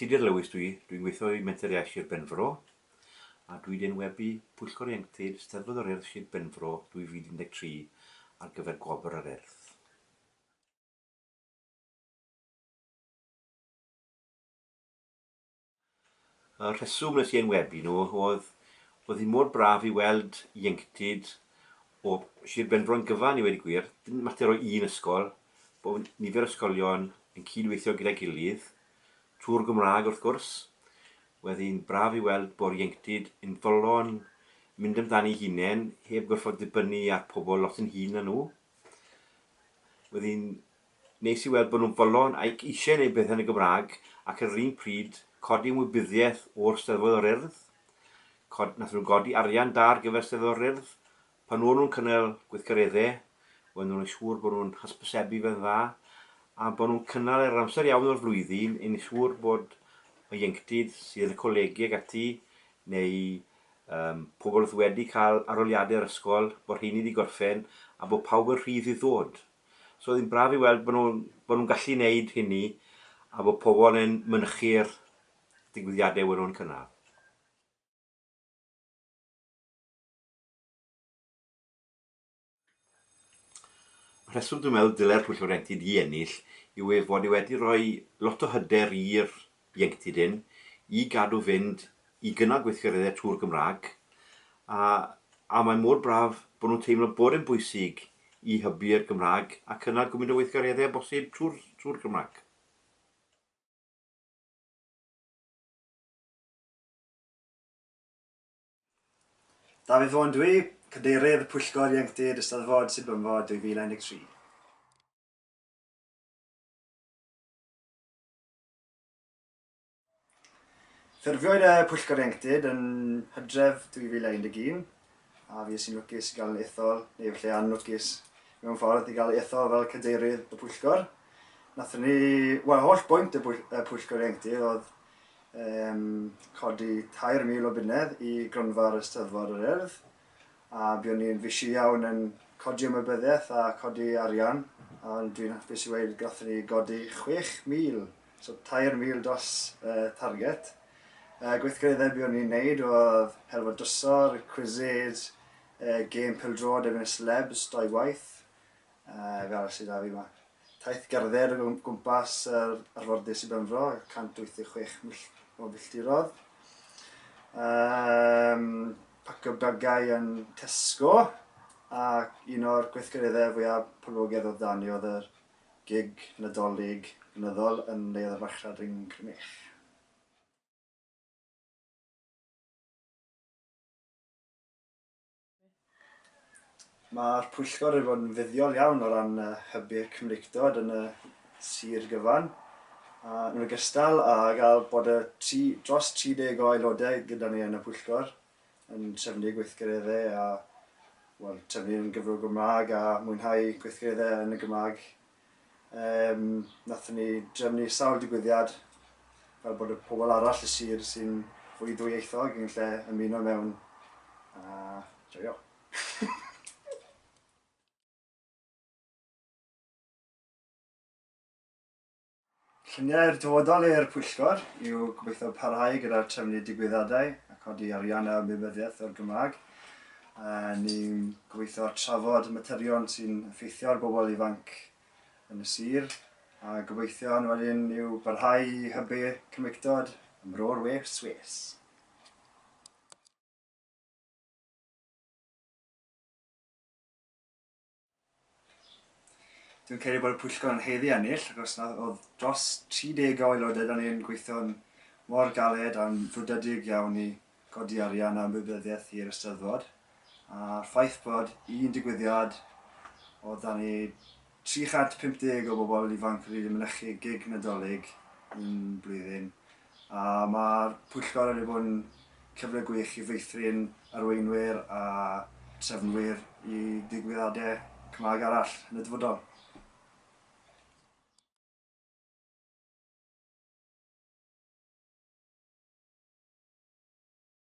Tudur Lewis dwi, dwi'n gweithio i Menter Iaith Sir Benfro a dwi wedi enwebu Pwyllgor Ieuenctid Steddfod yr Urdd Sir Benfro 2013 ar gyfer Gwobr yr Urdd. Y rheswm nes i enwebu nhw oedd oedd hi mor braf i weld ieuenctid o Sir Benfro'n gyfan i weud y gwir. Dim mater o un ysgol, bo' nifer o ysgolion yn cyd-weithio gyda'i gilydd, trwy'r Gymraeg wrth gwrs. Wedd hi'n braf i weld bo'r ieuenctid yn fodlon mynd amdani'i hunen heb gorfod dibynnu ar pobl lot yn hŷn na nhw. Wedd hi'n Nes i weld bod nhw'n fodlon ac eisiau gwneud pethau yn y Gymraeg ac ar yr un pryd codi ymwybyddiaeth o'r Steddfod o'r Urdd. Nathon nhw godi arian da ar gyfer Steddfod o'r Urdd. Pan o'n nhw'n cynnal gweithgareddau, oedden nhw'n neud siŵr bod nhw'n hysbysebu fe'n dda a bod nhw'n cynnal e ar yr amser iawn o'r flwyddyn i neud siŵr bod y ieuenctid sydd yn y colegi ac ati neu yym pobl oedd wedi cael arholiadau yr ysgol, bod rheiny 'di gorffen a bod pawb yn rhydd i ddod. So oedd hi'n braf i weld bod nhw'n bod nhw'n gallu wneud hynny a bod pobl yn mynychu'r digwyddiadau wedyn nhw'n cynnar. Y rheswm dwi'n meddwl dylai'r Pwyllgor Ieuenctid i ennill yw ei fod e wedi rhoi lot o hyder i'r ieuenctid hyn i gadw fynd i gynnal gweithgareddau Tŵr Gymraeg, a a mae mor braf bod nhw'n teimlo bod e'n bwysig i hybu'r Gymraeg a cynnal gymaint o weithgareddau â bosib trwy'r Tŵr Gymraeg. Dafydd Vaughan dw i, Cadeirydd Pwyllgor Ieuenctid Eisteddfod Sir Benfro 2013. Ffurfiwyd y Pwyllgor Ieuenctid yn Hydref 2011 a fi sy'n lwcus i gael yn ethol, neu efallai anlwcus mewn ffordd, i gael ethol fel cadeirydd y pwyllgor. Nathon ni, wel, holl bwynt y, bwyll, y pwyllgor ieuenctid oedd um, codi 3,000 o bunnedd i gronfa'r Ysteddfod yr Urdd, A buon ni'n fishi iawn yn codi ymwybyddiaeth a chodi arian, ond dwi'n hapus i weud gathon ni godi 6,000, so 3,000 dros y target. Y gweithgareddau buon ni'n neud oedd Helfa Drysor, Quized, gêm pêl-droed erbyn y Celebs dou waith, Yy, be arall sy 'da fi 'ma? Taith gerdded o gwmpas yr arfordir Sir Benfro, 186 mill o filltirodd. Um, pacio bagau yn Tesco, a un o'r gweithgareddau fwyaf poblogaidd oedd dani oedd yr gig Nadolig blynyddol yn Neuadd y Farchnad yn Crymych. Mae'r pwyllgor wedi bod yn fuddiol iawn o ran hybu'r Cymreictod yn y sir gyfan, yn ogystal â gael bod y tri, dros 30 o aelodau gyda ni yn y pwyllgor, yn trefnu gweithgareddau a wel, trefnu yn gyfrwng y Gymraeg a mwynhau gweithgareddau yn y Gymraeg Yym, nathon ni drefnu sawl digwyddiad fel bod y pobl arall y sir sy'n fwy ddwyieithog yn lle ymuno mewn a joio. Lluniau'r dyfodol i'r Pwyllgor yw gobeithio parhau gyda'r trefnu digwyddiadau a codi arian a ymwybyddiaeth o'r Gymraeg. Ni'n gobeithio trafod materion sy'n effeithio ar bobl ifanc yn y sir a gobeithion wedyn yw barhau i hybu Cymreictod ym Mro'r West. Dwi'n credu bod y pwyllgor yn haeddu ennill, ac os nad oedd dros 30 o aelodau da ni'n gweithio'n mor galed a'n frwdedig iawn i godi arian a ymwybyddiaeth i'r Eisteddfod, a'r ffaith bod un digwyddiad oedd da ni 350 o bobl ifanc wedi mynychu gig Nadolig un blwyddyn, A mae'r pwyllgor wedi bod yn cyfle gwych i feithrin arweinwyr a trefnwyr i ddigwyddiadau Cymraeg arall yn y dyfodol.